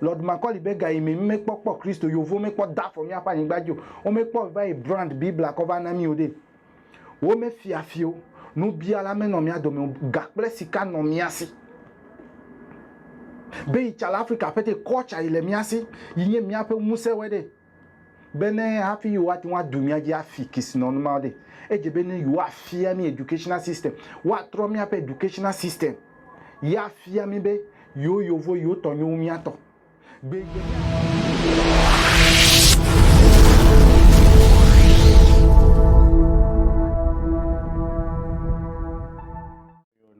Lord Macaulay be gayi me mímekpɔ kpɔ Kristo yo vó mekpɔ da fɔ míaƒe anyigba dzi o. Womekpɔ vayi brand Biblia kɔ va na mí o ɖe. Womefia fi o. Nubiala menɔ mía dome o. Ga kple sika nɔ mía si. Be yi tsa le Afrika ƒete, kɔ tsa yi le mía si, yi nye míaƒe ŋusẽ wɛ ɖe. Bene hafi yewoate ŋu ado mía dzi afi kesinɔnu ma ɖe, edze be ne yewoafia mí educational system, woatrɔ míaƒe educational system ye afia mí be yewo yovo yewo tɔ nyo wu mía tɔ. Gbe gbe ne ame aɖe gblɔ be yeaxɔ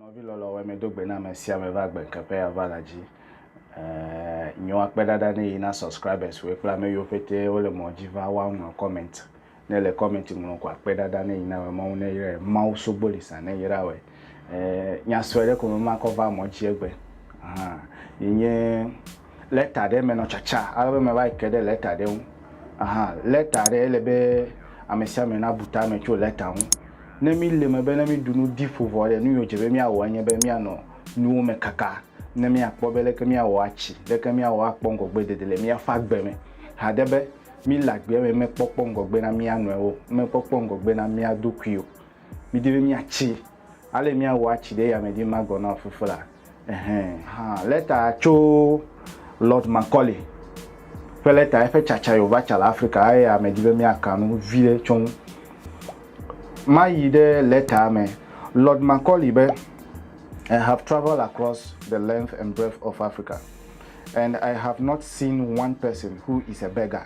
Nɔvi lɔlɔ wɛ me do gbe na me sia me va gbe ŋkeƒe ya va la dzi. Eh, nyo akpe ɖaɖa ne yi na subscribers wɛ kple ame yiwo pete wole mɔ dzi va wa ŋlɔ comment. Ne le comment ŋlɔ ko akpe ɖaɖa ne yi na wɛ mɔŋu ne yre Mawu sogboli sa ne yra wɛ. Eh, nyasɔe ɖe ko me makɔ va mɔ dzi egbe. Ahan, yi nye lɛta ɖe me nɔ tsatsa ale be meva yi ke ɖe lɛta ɖe ŋu. Aha, lɛta ɖe ele be ame sia ame nabu ta me tso lɛta ŋu. Ne míle eme be ne míɖu nu di ƒo vɔ ɖe, nu yiwo dze be míawɔ enye be míanɔ nuwo me kaka ne míakpɔ be leke míawɔ atsi, leke míawɔ akpɔ ŋgɔgbedede le míaƒe agbe me. Hade be míle agbea me mekpɔkpɔ ŋgɔgbe na mía nɔewo, mekpɔkpɔ ŋgɔgbe na mía ɖokui o. Midi be míatsi. Ale míawɔ atsi ɖe yame dzi magɔ na fuflea. Ɛhɛ̃. Hã, lɛta tso Lord Macaulay ƒe lɛta, eƒe tsatsa ye wòva tsa le Afrika, eya medi be míaka nu viɖe tso ŋu. Mayi ɖe lɛtaa me. Lord Macaulay be, I have travelled across the length and breadth of Africa, and I have not seen one person who is a beggar.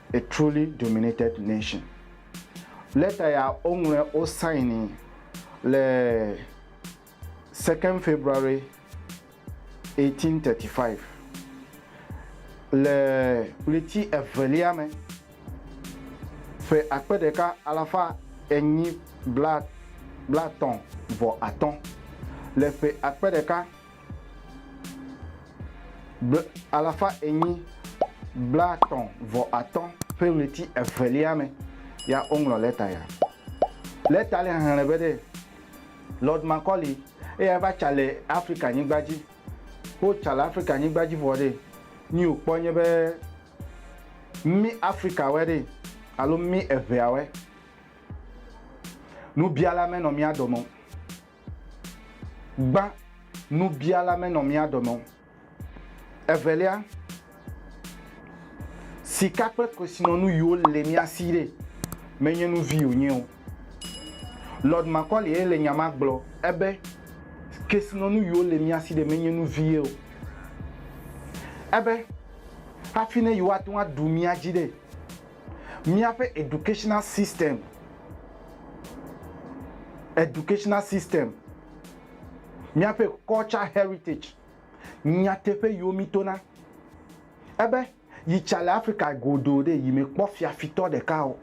A truly dominated nation. Lɛta ya woŋlɔe wosaini le second February 1835. Le ɣleti evelia me, ƒe akpe ɖeka alafa enyi bla blaetɔ̃ vɔ atɔ̃, le ƒe akpe ɖeka Ble alafa enyi blaatɔ̃ vɔ atɔ̃ ƒe ɣleti evelia me ya woŋlɔ lɛta ya. Lɛta le xexlẽ be ɖe Lord Macaulay eya va tsa le Afrika nyigba dzi. Wo tsa le Afrika nyigba dzi vɔ ɖe, nyi wo kpɔ nye be mí Afrikawɛ ɖe alo mí eŋɛawɛ. Nubiala me nɔ mía dɔme o. Gbã nubiala me nɔ mía dome o. Evelia, sika kple kesinɔnu yiwo le mía si ɖe, menye nu vi wònye o. Lord Makaulay'e le nya ma gblɔ ebe, Kesinɔnu yiwo le mía si ɖe menye nu vie o. Ebe, hafi ne yewoate ŋu aɖu mía dzi ɖe, Míaƒe educational system, educational system, míaƒe culture heritage, nyateƒe yiwo mítona, ebe yi tsa le Afrika godoo ɖe, yi mekpɔ fiafitɔ ɖeka o.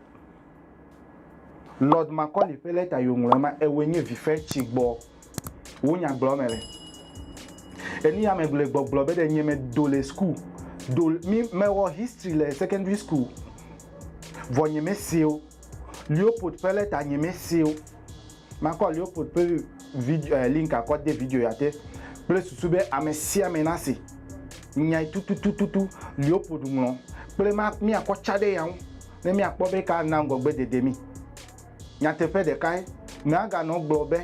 Lord Macaulay ƒe lɛta yi wòŋlɔ ema, ewɔe nye vife tsi gbɔ. Wo nya gblɔ me le. Eni ya me gblɔ gbɔgblɔ be ɖe nye me do le school do mi me wɔ history le secondary school. Vɔ nye me seo. Leopold ƒe leta nye me seo. Ma kɔ Leopold ƒe video eh, link akɔ de video ya te kple susu be ame sia ame na se nyai tututututu Leopold ŋlɔ kple ma mi akɔ tsa ɖe ya ŋu ne mi akpɔ be ka na ŋgɔgbe dede mi. Nyateƒe ɖekae, Mèaganɔ gblɔ be,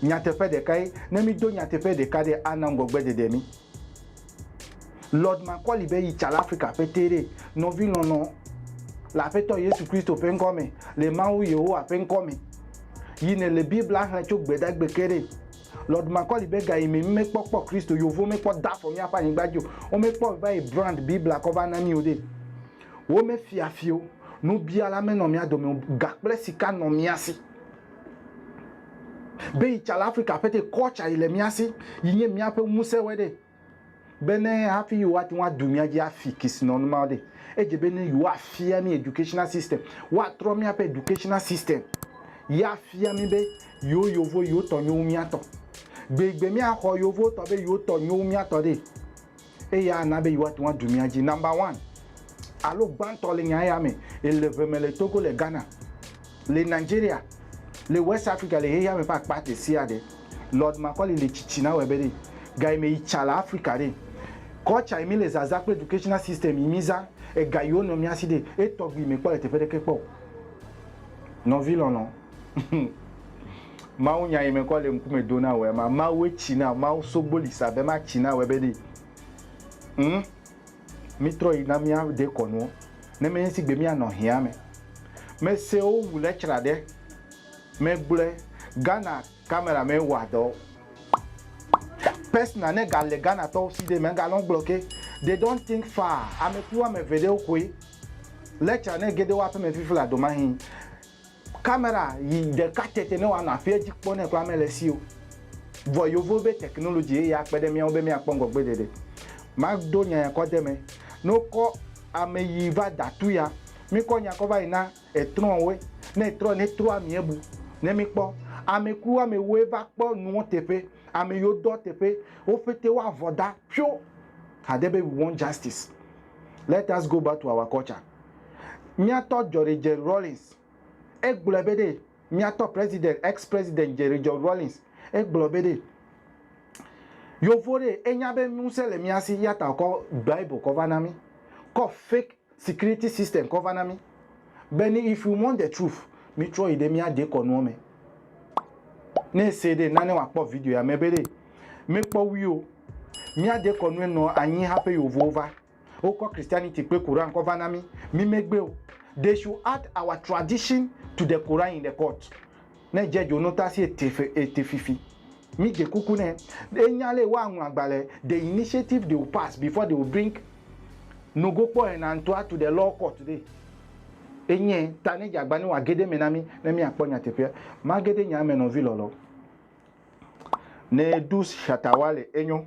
Nyateƒe ɖekae. Ne mído nyateƒe ɖeka ɖe, ana ŋgɔgbeɖeɖe mí. Lord Macaulay be yi tsala Afrika ƒe te ɖee, Nɔvilɔlɔ̃ le Aƒetɔ Yesu Kristo ƒe ŋkɔ me, le Mawu Yehowa ƒe ŋkɔ me, yi nèle Biblia xlẽ tso Gbedagbe ke ɖee. Lord Macaulay be gayime mí mekpɔ kpɔ Kristo, Yevuwo mekpɔ da afɔ míaƒe anyigba dzi o, womekpɔ va yi brand Biblia kɔ va na mí o ɖee. Womefia fi o, nubiala menɔ mía dome o, ga kple sika nɔ mía si. Be yi tsa le Afrika ƒe te, kɔ tsa yi le mía si, yi nye míaƒe ŋusẽ wɛ ɖe. Be ne hafi yi woate ŋu adu mía dzi afi kesinɔnu mawo ɖe, edze be ne yi woafia mí educational system, woatrɔ míaƒe educational system yi afia mí be yewo yovo yewo tɔ nyo wu mía tɔ. Gbeigbe mía xɔ yewo tɔ be yewo tɔ nyo wu mía tɔ ɖe. eye ana be yewoate ŋu adu mía dzi. Number one alo gbãtɔ le nya ya me le ʋe me le Togo, le Ghana, le Nigeria, le West Africa, le xexeame ƒe akpa ɖesiaɖe. Lord Macaulay le tsitsi na wɔe be ɖe ga yi me yi tsa le Africa ɖe, culture yi mi le zazã kple educational system yi mi zã, ega yi wo nɔ mía si ɖe, etɔgbi yi me kpɔ le teƒe ɖeke kpɔ o. Nɔvi lɔlɔ. Mawu nya yi mekɔ le ŋkume do na wòe ma Mawue tsi na wò Mawu sogbo li sa be ma tsi na wòe be ɖi ŋ mi trɔ yi na mia de kɔnuɔ ne me ŋsi gbe mia nɔ hia me me se wo wu le tsra ɖe me gblɔe Ghana camera me wa dɔ Pesna ne ga le Ghana tɔwo si de me ga lɔn gblɔ ke they don't think far ame kpui woame ve ɖewo koe le tsra ne ge de wo aƒeme fifi la do mahin. Kamera yi ɖeka tsɛtsɛ ne wòanɔ afia dzi kpɔ ne kura mele esi o. Vɔ yewovo be technology ye akpe ɖe míawo be míakpɔ ŋgɔgbeɖeɖe. Mado nya ya kɔ de eme. Ne wokɔ ame yi va da tu ya, míkɔ nya kɔ va yi na etrɔwoe. Ne etrɔ ne trɔa míebu ne míkpɔ. Amekui woamewoe va kpɔ nuwo teƒe. Ame yiwo dɔ teƒe wo ƒete woavɔ da ƒio hade be we want justice. Let us go back to our culture. Míatɔ Djori Jerry Rawlings, egblɔe be ɖe, míatɔ President, ex President Jerry Jerry Rawlings, egblɔ be ɖe, Yovo ɖe, enya be ŋusẽ le mía si, eya ta wòkɔ Bible kɔ va na mí, kɔ fake security system kɔ va na mí, be ni if you want the truth, mítrɔ yi ɖe mía dekɔnuɔ me. Ne ese ɖe, na ne wòakpɔ video ya me be ɖe, mekpɔ wui o, mía dekɔnue nɔ anyi haƒe Yovowo va. Wokɔ Christianity kple Quran kɔ va na mí. Mí me gbe o. They should add our tradition to the Quran in the court. Ne edze dzo no ta si ete fe ete fifi. Mí dze kuku ne e nya le woa ŋlɔ agbalẽ the initiative they will pass before they will bring no go kpɔ ena ŋtua to the law court ɖe enye ta ne dze agba ne woa gede me na mí ne mí akpɔ nyateƒea. Magede nya me nɔvi lɔlɔ. Ne ɖu shatawale enyo.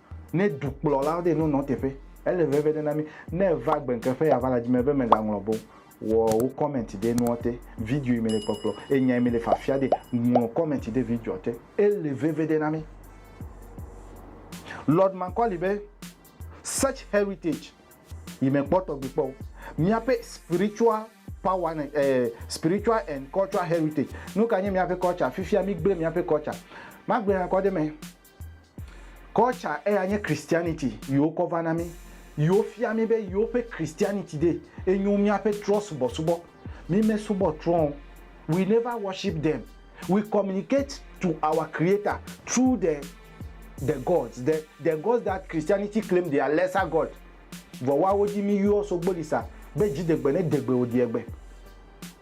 Ne dukplɔlawo de nonɔ teƒe, ele veve ɖe na mí. Ne èva gbe ŋke ƒe ava la dzi me be mègaŋlɔ be o, wɔ wò kɔmɛnti ɖe nuɔ te, video yi mele kpɔkplɔ, enya yi mele fiafia ɖe, ŋlɔ kɔmɛnti ɖe videoa te. Ele veve ɖe na mí. Lord Macaulay be, Such heritage yi mekpɔ tɔgbi kpɔ o. Míaƒe spiritual power ne, eh, spiritual and cultural heritage. Nuka nye míaƒe culture? Fifia migblẽ míaƒe culture. Magblɔe nakɔ ɖe eme. Culture eya nye Christianity yi wokɔ va na mí, yi wofia mí be yewoƒe Christianity ɖe enyo míaƒe trɔ̃subɔsubɔ. Mímesubɔ trɔ̃ o. We never worship them. We communicate to our Creator through the the gods, the the gods that Christianity claim they are lesser god. Vɔ woawo dzi míyɔ so gboli sa be dzidegbe ne degbe wòdeegbe.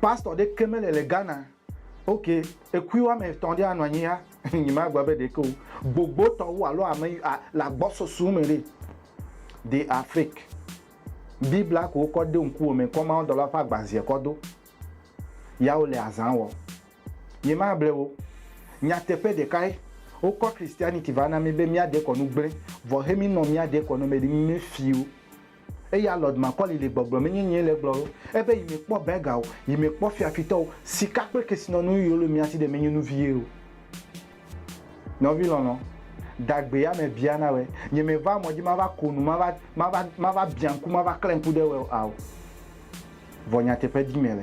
Pastor ɖe ke mele le Ghana. Ok, ekui woame etɔ̃ ɖe anɔ anyi ya, nyemagblɔ be ɖe ke o. Gbogbotɔwo alo ame le agbɔsɔsɔ me ɖe, de are fake. Biblia ko wokɔ de ŋkuwò me kɔ mawudɔlawo ƒe agbazeɛ kɔ do. Ya wole azã wɔ. Nyemable wò o. Nyateƒe ɖekae, wokɔ Christianity va na mí be míade kɔ nu gblẽ, vɔ he mí nɔ míade kɔ nɔ mɛ ɖe mí me fii o. Eya Lord Macaulay le gbɔgblɔ menye nyee le egblɔ ɖo. Ebe yi mekpɔ burger o, yi mekpɔ fiafitɔ o, sika kple kesinɔnu yiwo le mía si ɖe menye nu vie o. Nɔvi lɔlɔ̃, dagbe ya mebia na wòe. Nye meva mɔ dzi mava ko nu, mava, mava, mava biã ŋku, mava klẽ ŋku ɖe wòe o ao. Vɔ nyateƒe dim mele.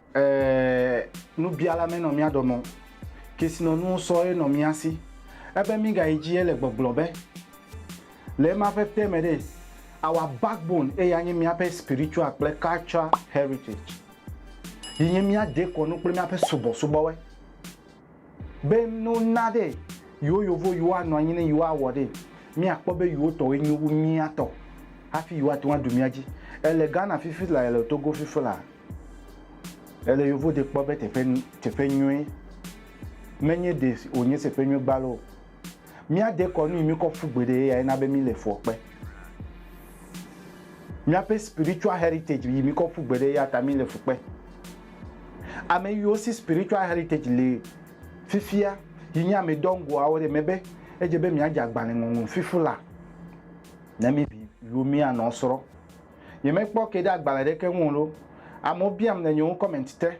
Eeeee nubiala me nɔ mía dɔme o, kesinɔnuwo sɔ ye nɔ mía si. Ebe mígayi dzi ele gbɔgblɔ be, Le ema ƒe ƒe me ɖe, our backbone eye anye míaƒe spiritual kple cultural heritage yi nye mía dekɔnu kple míaƒe subɔsubɔwe. Be no na ɖe yewo yovo yewo anɔ anyi ne yewo awɔ ɖe, mi a kpɔ be yewo tɔwoe nyo wu mia tɔ hafi yewo ate ŋu aɖu mia dzi. E le Ghana fifi la, e le Togo fifi la, e le yovo ɖe kpɔ be teƒe, teƒe nyuie. Me nye ɖe wonye teƒe nyuie gbalo o. Míade kɔ nu yi míkɔ ƒu gbeɖe ye yae na be míle fuɔ kpe. Míaƒe spiritual heritage yi míkɔ ƒu gbeɖe eya ta míle fu kpe. Ame yiwo si spiritual heritage le fifia yi nye ame dɔngoawo ɖe mebe edze be míadze agbalẽ ŋɔŋlɔ fifu la ne mí vi yiwo míanɔ srɔ̃. Nyemekpɔ ke ɖe agbalẽ ɖeke ŋu o loo. Amewo biam le nye ŋu comment te.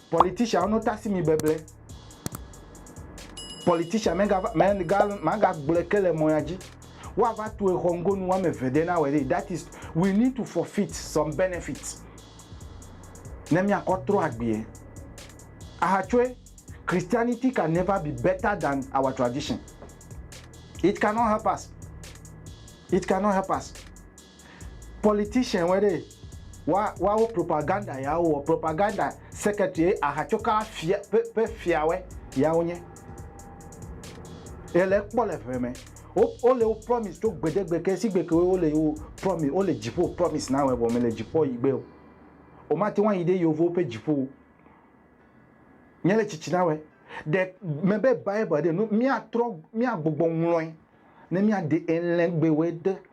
Politician no tasi mi beble. Politician me ga me ga ma ga gblɔe ke le mɔya dzi. Wa va tu exɔ ŋgo nu wa me ve de na wɛ de. That is we need to forfeit some benefits. Ne mi akɔ trɔ agbie. Aha tsoe Christianity can never be better than our tradition. It cannot help us. It cannot help us. Politician wɔe ɖee. Wa, woawo propaganda ya wowɔ. Propaganda secretary ahatsoka fia ƒe, ƒe fia wɔe ya wonye. Yele ekpɔ le ʋe me. Wo, wole wo promise tso gbedegbe ke sigbe ke wo le wo promise, wole dziƒo promise na wɔe vɔ mele dziƒoa yi gbe o. O mate ŋu ayi ɖe yeovowo ƒe dziƒo o. Nye le tsitsi na wɔe. Ɖe me be Bible ɖe nu, mía trɔ, mía gbɔgbɔ ŋlɔe ne mía ɖe elɛgbewɔe de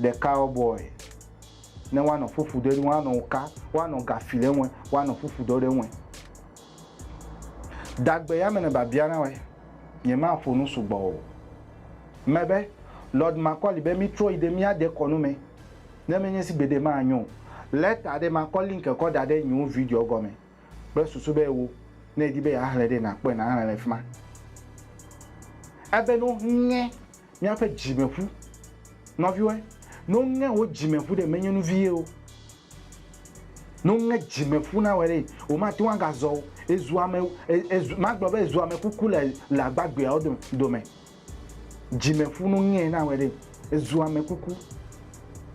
Ɖeka wo bɔe ne woanɔ ƒuƒu ɖe eŋu, woanɔ wo ka, woanɔ ga fi ɖe eŋu, woanɔ ƒuƒu ɖɔ ɖe eŋu. Dagbe ya me ne babia na woe, nye ma ƒo nu sugbɔ o. Me be, Lord Macauley be mi trɔ yi ɖe mía dekɔnu me, ne menye si gbeɖe ma nyo o. Lɛta ɖe ma kɔ link kɔ da ɖe nyiwo video gɔme kple susu be wo ne edi be ya xlɛ ɖe na kpɔe na xlɛ le fima. Ebe no ŋe. míaƒe dzime ƒu. Nɔviwoe, ne woŋe wò dzime ƒu ɖe, menye nu vie o. Ne woŋe dzime ƒu na wòe ɖe, womate ŋu agazɔ o. Ezu ame, ezu, magblɔ be ezu ame kuku le, le agbagbeawo dome, dome. Dzime ƒu, ne woŋee na wòe ɖe, ezu ame kuku.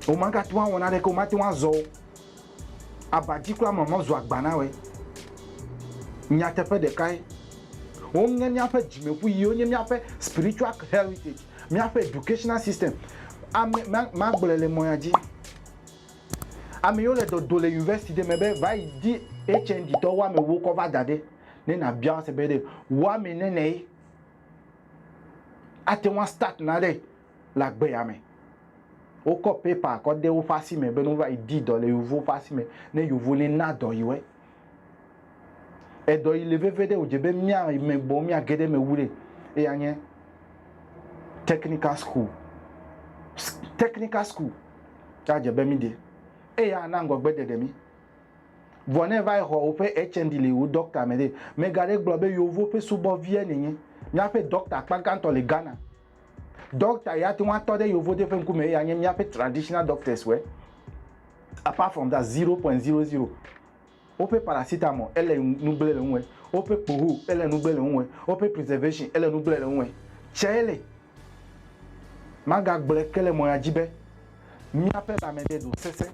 Womagate ŋu awɔ naneke o, womate ŋu azɔ o. Aba dzi kura mɔmɔ zu agba na wòe. Nyateƒe ɖekae, woŋe míaƒe dzimeƒu yiwo nye míaƒe spiritual heritage, míaƒe educational system, ame, ma, magblɔe le mɔ ya dzi. Ame yiwo le dɔdo le university ɖe me be vayi di HND tɔwo ame ewo kɔ va da ɖe, ne nàbia wo ase be ɖe woame nɛnɛe ate ŋu astart naɖe. le agbea me. Wokɔ paper kɔ de woƒe asi me be ne wova yi di dɔ le yevuwo ƒe asi me ne yevu ne na dɔ yewoe. Edɔ yi le veve ɖe wòdze be mía me gbɔ mía ge ɖe eme wu ɖe eya nye technical school. Technical school ya dze be mí de eya ana ŋgɔgbe ɖeɖe mí. Vɔ ne va yi xɔ woƒe HND le yewo doctor me ɖe, mega ɖe gblɔ be yewo ƒe subɔvie ne nye. Míaƒe doctor akpa gãtɔ le Ghana. Doctor ya ate ŋu atɔ ɖe yevode ƒe ŋkume eye anye míaƒe traditional doctors wɛ. Apart from that, 0.00. Woƒe paracetamol ele nu gblẽ le ŋuwɛ. Woƒe kpoho ele nu gblẽ le ŋuwɛ. Woƒe preservation ele nu gblẽ le ŋuwɛ. Tsɛle, magagblɔe ke le mɔ ya dzi be, míaƒe lãme ɖe ɖo sesẽ.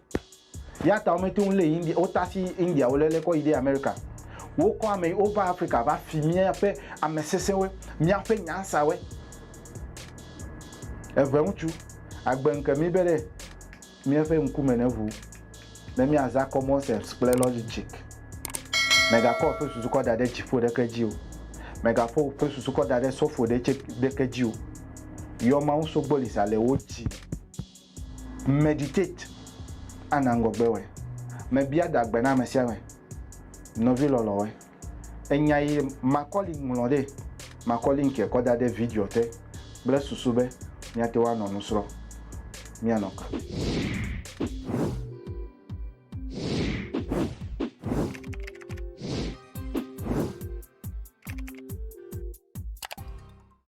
Eya ta womete ŋu lé India, wotasi India wo lele kɔ yi ɖe Amerika. Wokɔ ame yi wova Afrika va fi míaƒe ame sesẽwoe, míaƒe nyansawoe. Eve ŋutsu agbe ŋke mí be ɖe míaƒe ŋkume neʋu ne míaza commonsepts kple logic. Megakɔ woƒe susu kɔ da ɖe dziƒo ɖeke dzi o. Megaƒo woƒe susu kɔ da ɖe sɔfo ɖe tse ɖeke dzi o. Yɔ Mawu sogbolisa le wo dzi. Meditate, ana ŋgɔgbe wɔe. Mebia da gbe na ame sia ame, nɔvi lɔlɔ̃woe. Enya yi Macaulay ŋlɔ ɖee. Makɔ link ye kɔ da ɖe videoa te kple susu be míate ŋu anɔ nu srɔ̃. Míanɔ ke.